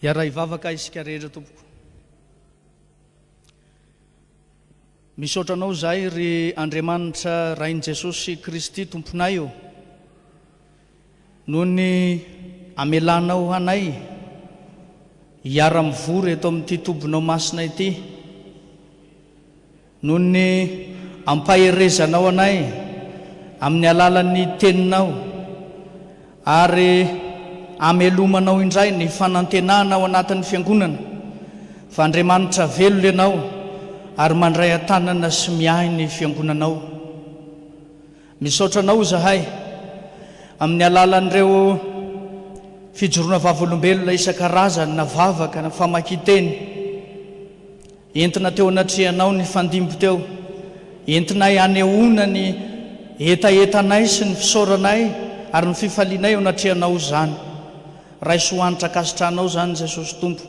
Hiara hivavaka isika rehetra tompoko. Misaotra anao izahay ry Andriamanitra Rain'i Jesosy Kristy Tomponay ô, noho ny amelanao anay hiara-mivory eto amin'ity tobinao masina ity. Noho ny ampaherezanao anay amin'ny alalan'ny Teninao, ary amelomanao indray ny fanantenana ao anatin'ny Fiangonana fa Andriamanitra velona Ianao ary mandray an-tanana sy miahy ny Fiangonanao. Misaotra Anao izahay amin'ny alalan'ireo fijoroana vavolombelona isan-karazany na vavaka na famakian-teny. Entina teo anatrehanao nifandimby teo, entinay hanehoana ny hetahetanay sy ny fisaoranay ary ny fifalianay eo anatrehanao izany. Raiso ho hanitra ankasitrahanao izany Jesosy Tompo.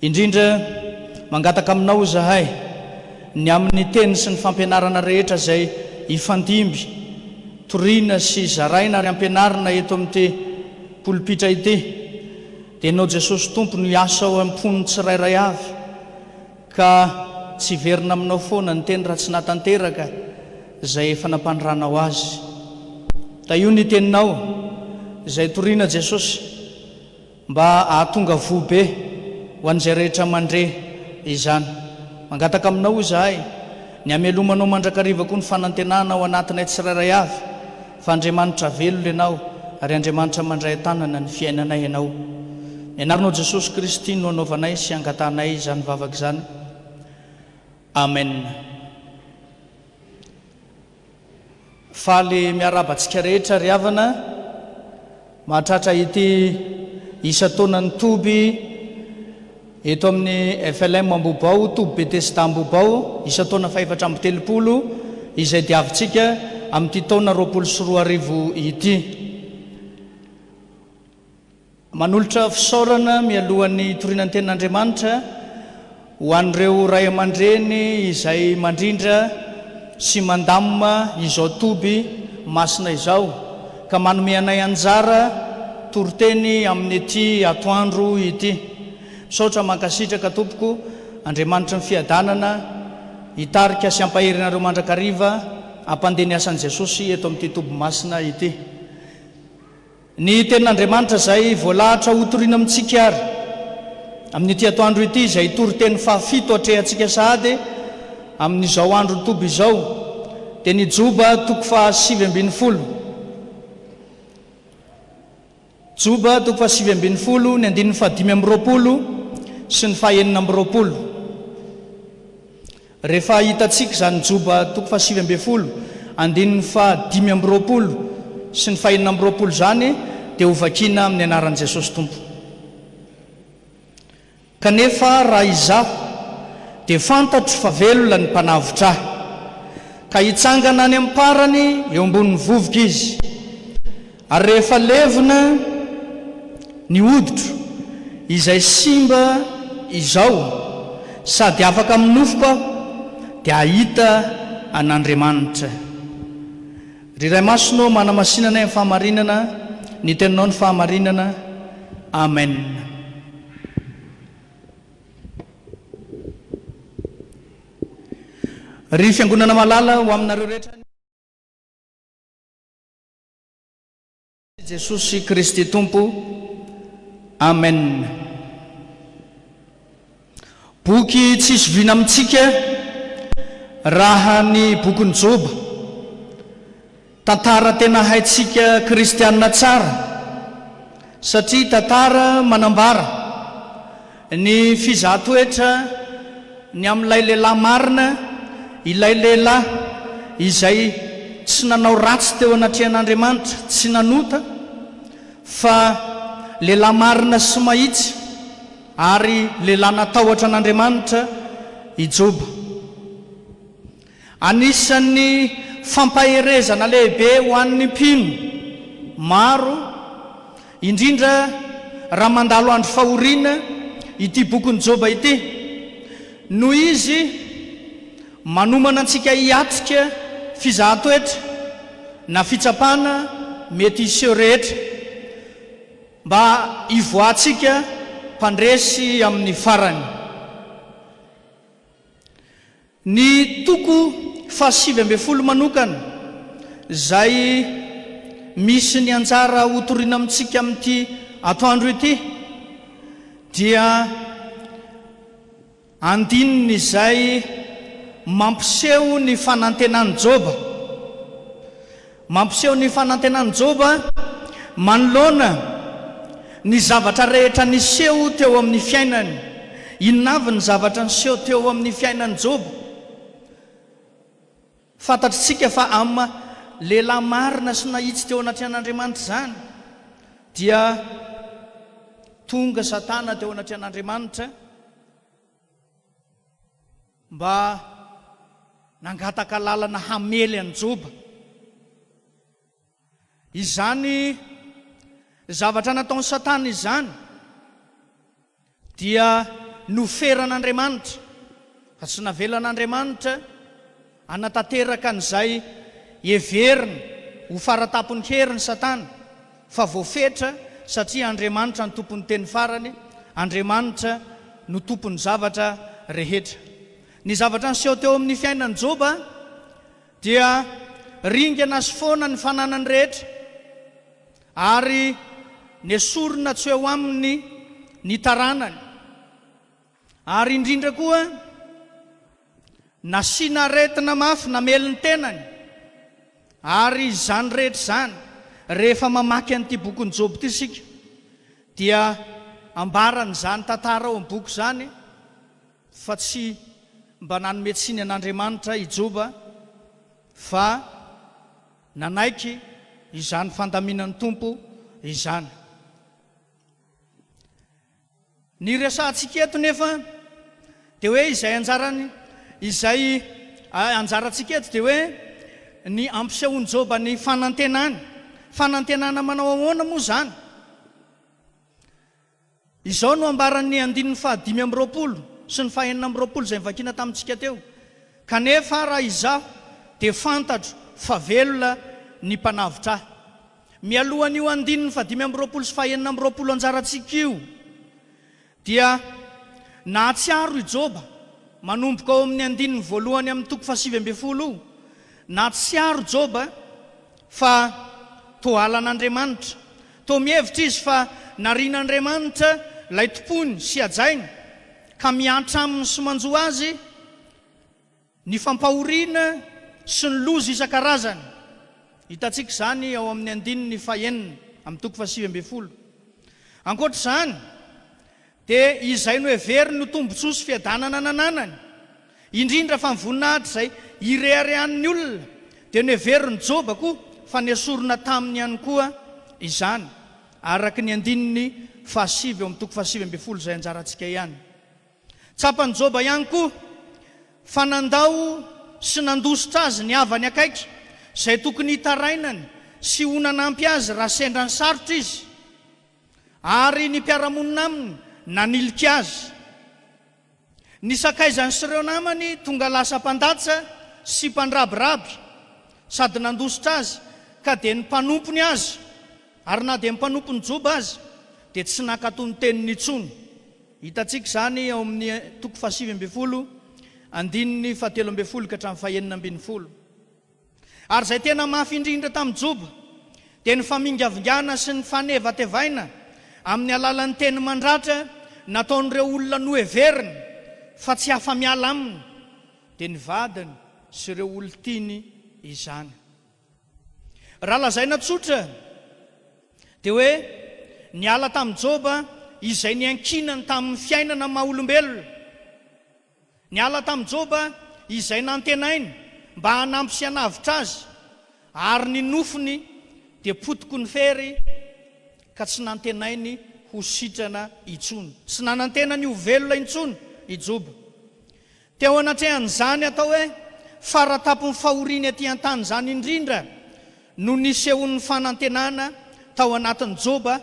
Indrindra, mangataka aminao izahay, ny amin'ny teny sy ny fampianarana rehetra izay hifandimby, toriana sy zaraina ary ampianarina eto amin'ity polpitra ity, Dia Ianao Jesosy Tompo no hiasa ao am-pon'ny tsirairay avy, ka tsy hiverina aminao foana ny teny raha tsy nahatanteraka izay efa nampaniranao azy. Tahio ny teninao izay toriana Jesosy mba hahatonga voa be ho an'izay rehetra mandre izany. Mangataka aminao izahay ny hamelomanao mandrakariva koa ny fanantenana ao anatinay tsirairay avy Fa Andriamanitra velona ianao ary Andriamanitra mandray an-tanana ny fiainanay ianao. Ny anaranao Jesosy Kristy no anaovanay sy angatahanay izany vavaka izany. Amen. Faly miarahaba antsika rehetra ry havana. Mahatratra ity isan-taonan'ny toby eto amin'ny FLM Ambohibao, toby Betesda Ambohibao, isan-taona fahefatra amby telopolo, izay diavintsika amin'ity taona roapolo sy roa arivo ity. Manolotra fisaorana mialohan'ny hitoriana ny tenin'Andriamanitra, Ho an'ireo ray aman-dreny izay mandrindra sy mandamina izao toby masina izao ka manome anay anjara toriteny amin'ity atoandro ity, misaotra mankasitraka tompoko, Andriamanitry ny fiadanana hitarika sy hampahery anareo mandrakariva hampandeha ny asan'i Jesosy eto amin'ity toby masina ity. Ny Tenin'Andriamanitra izay voalahatra hotorina amintsika àry amin'ity atoandro ity, izay toriteny fahafito atrehantsika sahady amin'izao andro toby izao, dia ny Joba toko fahasivy ambin'ny folo. Joba toko fahasivy ambin'ny folo, ny andininy fahadimy amby roapolo sy ny fahenina amby roapolo. Rehefa hitantsika izany Joba toko fahasivy ambin'ny folo, andininy fahadimy amby roapolo sy ny fahenina amby roapolo izany dia hovakiana amin'ny anaran'i Jesosy Tompo. Kanefa raha izaho dia fantatro fa velona ny mpanavotra ahy, ka hitsangana any am-parany eo ambonin'ny vovoka izy. Ary rehefa levona ny hoditro izay simba izao sady afaka amin'ny nofoko aho, dia hahita an'Andriamanitra. Ry Ray Masina ô, manamasinana ahy amin'ny fahamarinana, ny Teninao no fahamarinana. Amen. Ry Fiangonana malala, ho aminareo rehetra ny. Jesosy Kristy Tompo. Amen. Boky tsy hisy vina amintsika raha ny bokin'i Joba. Tantara tena haintsika kristiana tsara satria tantara manambara. Ny fizaha toetra ny amin'ilay lehilahy marina, ilay lehilahy izay tsy nanao ratsy teo anatrehan'Andriamanitra, tsy nanota, fa lehilahy marina sy mahitsy ary lehilahy natahotra an'Andriamanitra i Joba. Anisan'ny fampaherezana lehibe ho an'ny mpino maro, indrindra raha mandalo andro fahoriana, ity bokin'i Joba ity. Noho izy manomana antsika hiatrika fizahan-toetra na fitsapana mety hiseho rehetra, mba hivoahantsika mpandresy amin'ny farany. Ny toko fahasivy ambin'ny folo manokana, izay misy ny anjara hotorina amintsika amin'ity atoandro ity, dia andininy izay mampiseho ny fanantenan'i Joba. Mampiseho ny fanantenan'i Joba manoloana ny zavatra rehetra niseho teo amin'ny fiainany. Inona avy ny zavatra niseho teo amin'ny fiainan'i Joba? Fantatr'tsika fa am lehilahy marina sy nahitsy teo anatrehan'Andriamanitra izany dia tonga Satana teo anatrehan'Andriamanitra, Mba nangataka lalana hamely an'i Joba. Izany zavatra nataon'i Satana izany dia noferan'Andriamanitra, fa tsy navelan'Andriamanitra hanatanteraka an'izay heveriny ho fara-tampon'ny heriny Satana. Fa voafetra satria Andriamanitra no tompon'ny teny farany, Andriamanitra no tompon'ny zavatra rehetra. Ny zavatra niseho teo amin'ny fiainan'i Joba dia ringana sy foana ny fananany rehetra, ary nesorina tsy ho eo aminy ny taranany. Ary indrindra koa, nasiana aretina mafy namely ny tenany. Ary izany rehetra izany, rehefa mamaky an'ity bokin'i Joba ity isika, dia ambaran'izany tantara ao amin'ny boky izany fa tsy mba nanome tsiny an'Andriamanitra i Joba, fa nanaiky izany fandaminan'ny Tompo izany. Ny resahantsika eto nefa dia hoe izay anjarany, izay anjarantsika eto dia hoe ny ampisehoan'i Joba ny fanantenany. Fanantenana manao ahoana moa izany? Izao no ambaran'ny andininy fahadimy amby roapolo sy ny fahenina amby roapolo izay novakiana tamintsika teo, Kanefa raha izaho dia fantatro fa velona ny mpanavotra ahy. Mialohan'io andininy fahadimy amby roapolo sy fahenina amby roapolo anjarantsika io, dia nahatsiaro i Joba, manomboka ao amin'ny andininy voalohany amin'ny toko fahasivy ambin'ny folo, nahatsiaro Joba fa toa halan'Andriamanitra. Toa mihevitra izy fa narian'Andriamanitra ilay tompony sy hajainy, ka miantra aminy sy manjo azy Ny fampahoriana sy ny loza isan-karazany. Hitantsika izany ao amin'ny andininy fahenina, amin'ny toko fahasivy ambin'ny folo. Ankoatra izany, dia izay noheveriny ho tombontsoa sy fiadanana nananany, indrindra fa ny voninahitra izay ireharehan'ny olona, dia noheverin'i Joba koa fa nesorina taminy ihany koa izany, araka ny andininy fahasivy ao amin'ny toko fahasivy ambin'ny folo izay anjarantsika ihany. Tsapan'i Joba ihany koa fa nandao sy nandositra azy ny havany akaiky, izay tokony hitarainany sy ho nanampy azy raha sendra nisarotra izy, ary ny mpiara-monina aminy nanilika azy. Ny sakaizany sy ireo namany tonga lasa mpandatsa sy mpandrabiraby sady nandositra azy, ka dia ny mpanompony aza, ary na dia ny mpanompon'i Joba aza, dia tsy nankato ny teniny intsony. Hitantsika izany ao amin'ny toko fahasivy ambin'ny folo, andininy fahatelo ambin'ny folo ka hatramin'ny fahenina ambin'ny folo. Ary izay tena mafy indrindra tamin'i Joba dia ny famingavingana sy ny fanevatevaina amin'ny alalan'ny teny mandratra nataon'ireo olona noheveriny fa tsy afa-miala aminy, dia ny vadiny sy ireo olon-tiany izany. Raha lazaina tsotra dia hoe niala tamin'i Joba izay niankinany tamin'ny fiainana maha olombelona. Niala tamin'i Joba izay nantenainy mba hanampy sy hanavotra azy, ary ny nofony dia potiky ny fery ka tsy nantenainy ho sitrana intsony. Tsy nanantena ny ho velona intsony i Joba. Teo anatrehan'izany atao hoe faratapon'ny fahoriana ety an-tany izany indrindra no nisehoan'ny fanantenana tao anatin'i Joba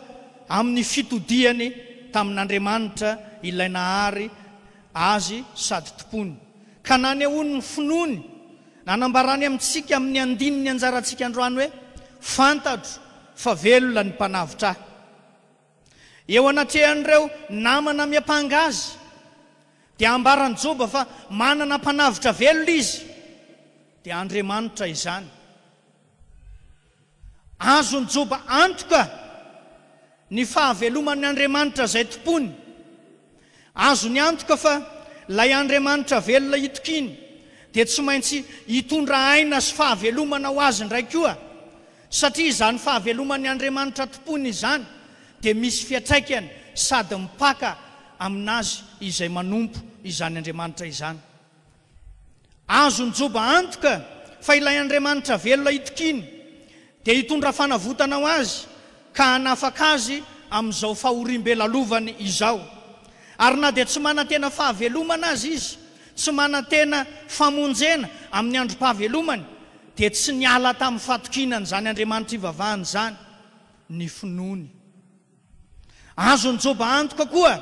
amin'ny fitodihany tamin'Andriamanitra Ilay nahary azy sady tompony, ka nanehoany ny finoany. Nanambarany amintsika amin'ny andininy anjarantsika androany hoe, Fantatro fa velona ny Mpanavotra ahy. Eo anatrehan'ireo namana miampanga azy, dia ambaran'i Joba fa manana Mpanavotra velona izy, dia Andriamanitra izany. Azon'i Joba antoka ny fahaveloman'ny Andriamanitra izay tompoiny. Azony antoka fa ilay Andriamanitra velona hitokiany dia tsy maintsy hitondra aina sy fahavelomana ho azy indray koa, satria izany fahaveloman'ny Andriamanitra tompony izany dia misy fiatraikany sady mipaka amin'azy izay manompo izany Andriamanitra izany. Azon'i Joba antoka fa ilay Andriamanitra velona hitokiany dia hitondra fanavotana ho azy ka hanafaka azy amin'izao fahoriam-be lalovany izao. Ary na dia tsy manantena fahavelomana aza izy, tsy manantena famonjena amin'ny androm-pahavelomany, dia tsy niala tamin'ny fatokiana an'izany Andriamanitra ivavahany izany ny finoany. Azon'i Joba antoka koa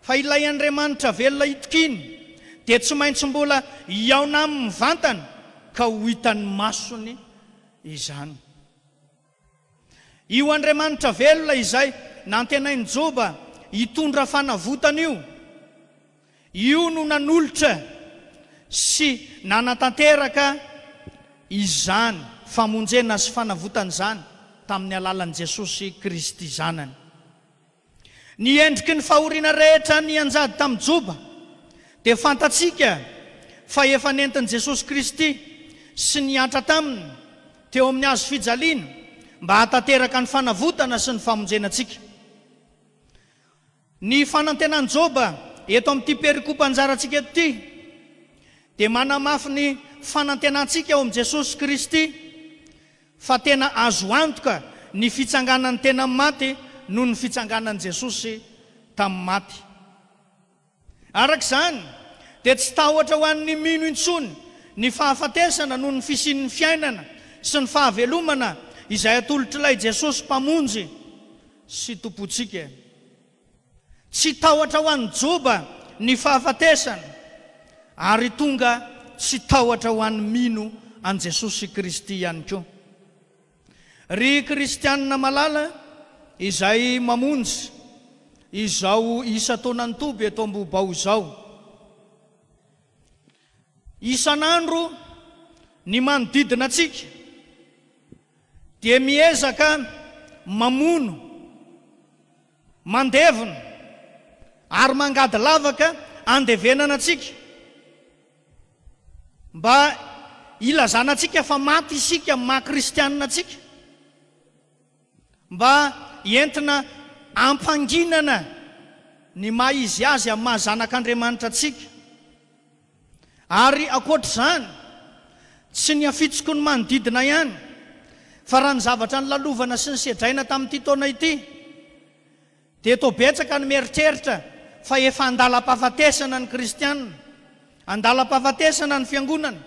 fa ilay Andriamanitra velona itokiany dia tsy maintsy mbola hihaona aminy mivantana ka ho hitan'ny masony izany. Io Andriamanitra velona izay nantenain'i Joba hitondra fanavotana io, Io no nanolotra sy nanatanteraka izany famonjena sy fanavotana izany tamin'ny alalan'i Jesosy Kristy Zanany. Ny endriky ny fahoriana rehetra nianjady tamin'i Joba dia fantatsika fa efa nentin'i Jesosy Kristy sy niantra taminy teo amin'ny hazo fijaliana mba hahatanteraka ny fanavotana sy ny famonjena antsika. Ny fanantenan'i Joba eto amin'ity perikopa anjarantsika eto ity dia manamafy ny fanantenantsika ao amin'i Jesosy Kristy fa tena azo antoka ny fitsanganan'ny tena amin'ny maty noho ny fitsanganan'i Jesosy tamin'ny maty. Araka izany, dia tsy tahotra ho an'ny mino intsony ny fahafatesana noho ny fisian'ny fiainana sy ny fahavelomana izay atolotr'ilay Jesosy Mpamonjy. sy Tompontsika e! Tsy tahotra ho an'ny joba ny fahafatesana, ary tonga tsy tahotra ho an'ny mino an'i Jesosy Kristy ihany koa. Ry Kristianina malala izay mamonjy izao isan-taonan'ny toby eto Ambohibao izao, isan'andro ny manodidina antsika Dia miezaka mamono, mandevona ary mangady lavaka andevenana antsika mba hilazana antsika fa maty isika amin'ny maha kristianina antsika, mba entina hampanginana ny maha izy azy amin'ny maha zanak'Andriamanitra antsika. Ary ankoatra izany, tsy ny hafitsoko ny manodidina ihany, fa raha ny zavatra nolalovana sy nosedraina tamin'ity taona ity, dia toa betsaka ny mieritreritra fa efa an-dalam-pahafatesana ny kristiana, an-dalam-pahafatesana ny fiangonana,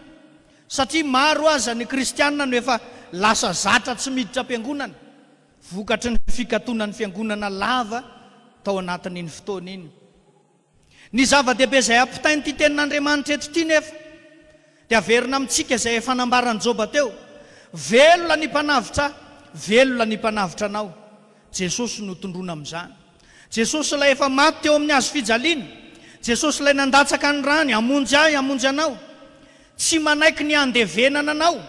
satria maro aza ny kristiana no efa lasa zatra tsy miditra am-piangonana, vokatry ny fikatonan'ny fiangonana lava tao anatin'iny fotoana iny. Ny zava-dehibe izay ampitain'ity Tenin'Andriamanitra eto ity nefa dia averina amintsika izay efa nambaran'i Joba teo, Velona ny Mpanavotra ahy, velona ny Mpanavotra anao. Jesosy no tondroina amin'izany. Jesosy ilay efa maty teo amin'ny hazo fijaliana. Jesosy ilay nandatsaka ny rany hamonjy ahy, hamonjy anao. Tsy manaiky ny handevenana anao.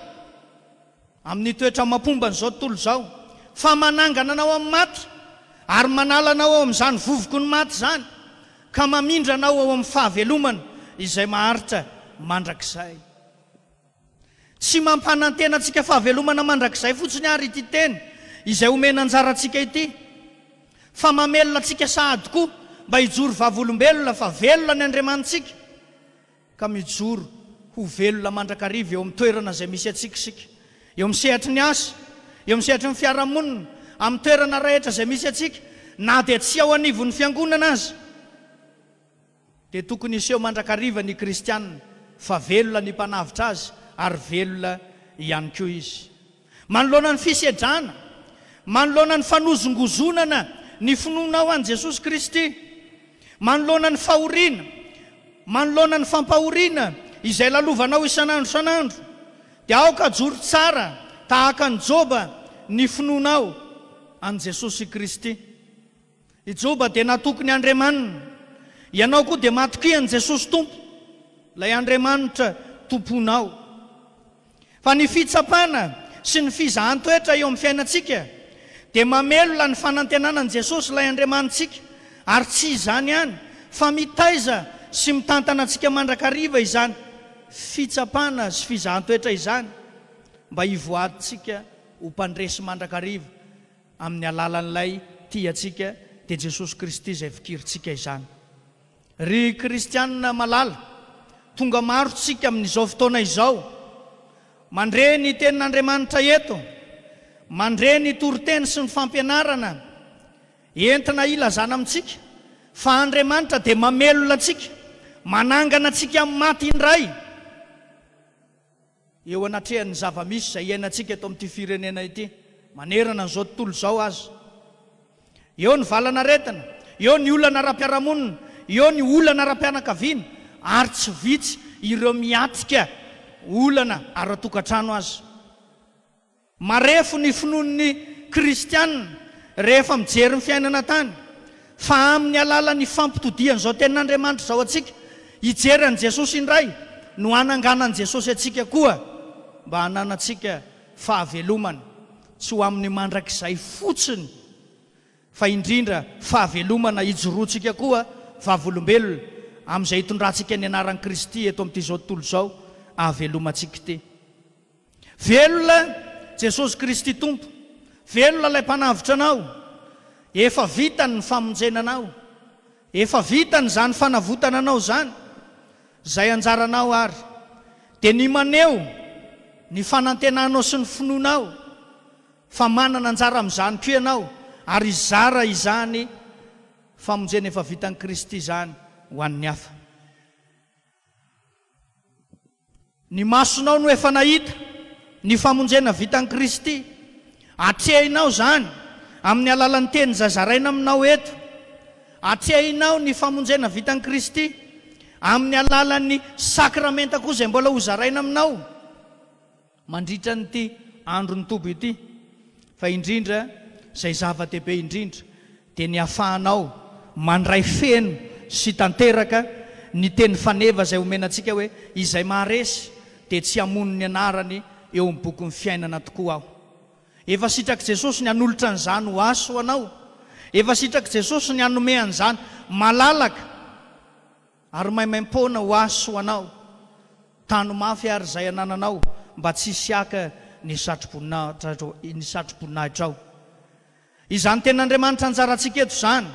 Amin'ny toetra mapomba an'izao tontolo izao, fa manangana anao amin'ny maty, ary manala anao ao amin'izany vovoko ny maty izany, ka mamindra anao ao amin'ny fahavelomana izay maharitra mandrakizay. Tsy mampanantena antsika fahavelomana mandrakizay fotsiny àry ity teny izay omena anjara antsika ity, fa mamelona antsika sahady koa mba hijoro vavolombelona fa velona ny Andriamanitsika. ka mijoro ho velona mandrakariva eo amin'ny toerana izay misy antsika isika, eo amin'ny sehatry ny asa, eo amin'ny sehatry ny fiarahamonina, amin'ny toerana rahetra izay misy antsika, na dia tsy ao anivon'ny Fiangonana aza, dia tokony hiseho mandrakariva ny kristiana fa velona ny mpanavotra azy ary velona ihany koa izy. Manoloana ny fisedrana, manoloana ny fanozongozonana ny finoanao an'i Jesosy Kristy, manoloana ny fahoriana, manoloana ny fampahoriana izay lalovanao isan'andro isan'andro, dia aoka hajoro tsara tahaka an'i Joba ny finoanao an'i Jesosy Kristy. I Joba dia natoky ny Andriamaniny. Ianao koa dia matokia an'i Jesosy Tompo, ilay Andriamanitra Tomponao. Fa ny fitsapana sy ny fizahan-toetra eo amin'ny fiainantsika dia mamelona ny fanantenana an'i Jesosy ilay Andriamanitsika, ary tsy izany ihany fa mitaiza sy mitantana antsika mandrakariva izany fitsapana sy fizahan-toetra izany mba hivoarintsika ho mpandresy mandrakariva amin'ny alalan'ilay tia antsika, dia Jesosy Kristy izay fikirintsika izany. Ry kristiana malala, tonga maro tsika amin'izao fotoana izao, mandre ny Tenin'Andriamanitra eto, mandre ny toriteny sy ny fampianarana entina hilazana amintsika fa Andriamanitra dia mamelona antsika, manangana antsika amin'ny maty indray. Eo anatrehan'ny zava-misy izay iainantsika eto amin'ity firenena ity, manerana an'izao tontolo izao aza, eo ny valan'aretina, eo ny olana ara-piarahamonina, eo ny olana ara-pianakaviana, ary tsy vitsy ireo miatrika olana ara-tokantrano aza. Marefo ny finoan'ny kristiana rehefa mijery ny fiainana tany, fa amin'ny alalan'ny fampitodihan'izao tenin'Andriamanitra izao antsika hijery an'i Jesosy indray no hananganan'i Jesosy antsika koa mba hananantsika fahavelomana, tsy ho amin'ny mandrakizay fotsiny fa indrindra fahavelomana hijoroantsika koa vavolombelona amin'izay hitondrantsika ny anaran'i Kristy eto amin'ity izao tontolo izao ahavelomantsika ity. Velona Jesosy Kristy Tompo! Velona ilay Mpanavotra anao! Efa vitany ny famonjena anao! Efa vitany izany fanavotana anao izany! Izay anjaranao ary dia ny maneho ny fanantenanao sy ny finoanao fa manana anjara amin'izany koa ianao ary hizara izany famonjena efa vitan'i Kristy izany ho an'ny hafa. Ny masonao no efa nahita ny famonjena vitan'i Kristy. Atrehinao izany amin'ny alalan'ny teny izay zaraina aminao eto. Atrehinao ny famonjena vitan'i Kristy amin'ny alalan'ny sakramenta koa izay mbola hozaraina aminao. mandritra an'ity andron'ny toby ity, fa indrindra izay zava-dehibe indrindra dia ny hafahanao mandray feno sy tanteraka ny teny faneva izay omena antsika hoe, izay maharesy dia tsy hamono ny anarany eo amin'ny bokin'ny fiainana tokoa aho. Efa sitrak'i Jesosy ny hanolotra an'izany ho ahy sy ho anao. Efa sitrak'i Jesosy ny hanome an'izany malalaka. Ary maimaim-poana ho ahy sy ho anao, tano mafy àry izay anananao, mba tsy hisy haka ny satroboninahitranao. Izany tenin'Andriamanitra anjarantsika eto izany,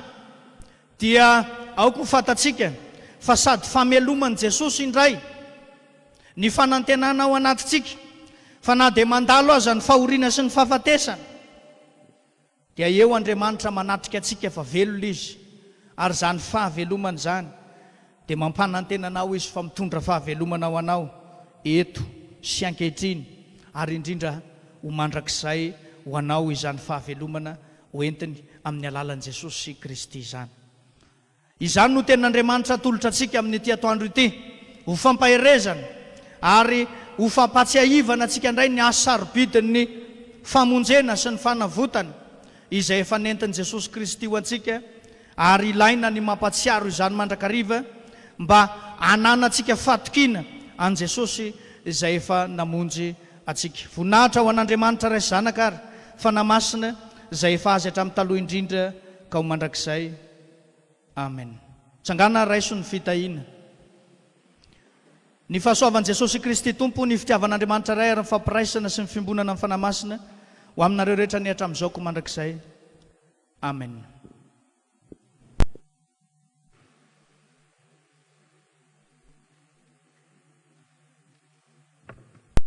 dia aoka ho fantatsika fa sady fameloman'i Jesosy indray ny fanantenana ao anatintsika, fa na dia mandalo aza ny fahoriana sy ny fahafatesana, Dia eo Andriamanitra manatrika antsika fa velona Izy, ary izany fahavelomana izany dia mampanantena anao Izy fa mitondra fahavelomana ho anao eto sy ankehitriny, ary indrindra ho mandrakizay ho anao izany fahavelomana hoentiny amin'ny alalan'i Jesosy Kristy izany. Izany no tenin'Andriamanitra atolotra antsika amin'ity atoandro ity, ho fampaherezana ary ho fampahatsiahivana antsika indray ny asa sarobidin'ny famonjena sy ny fanavotana izay efa nentin'i Jesosy Kristy ho antsika, ary ilaina ny mampahatsiaro izany mandrakariva mba hananantsika fahatokiana an'i Jesosy izay efa namonjy antsika. Voninahitra ho an'Andriamanitra Ray sy Zanaka ary Fanahy Masina izay efa Azy hatramin'ny taloha indrindra ka ho mandrakizay. Amen Tsangana raiso ny fitahiana Ny fahasoavan'i Jesosy Kristy Tompo, ny fitiavan'Andriamanitra Ray ary ny fampiraisana sy ny fiombonana amin'ny Fanahy Masina ho aminareo rehetra anie hatramin'izao koa mandrakizay. Amen.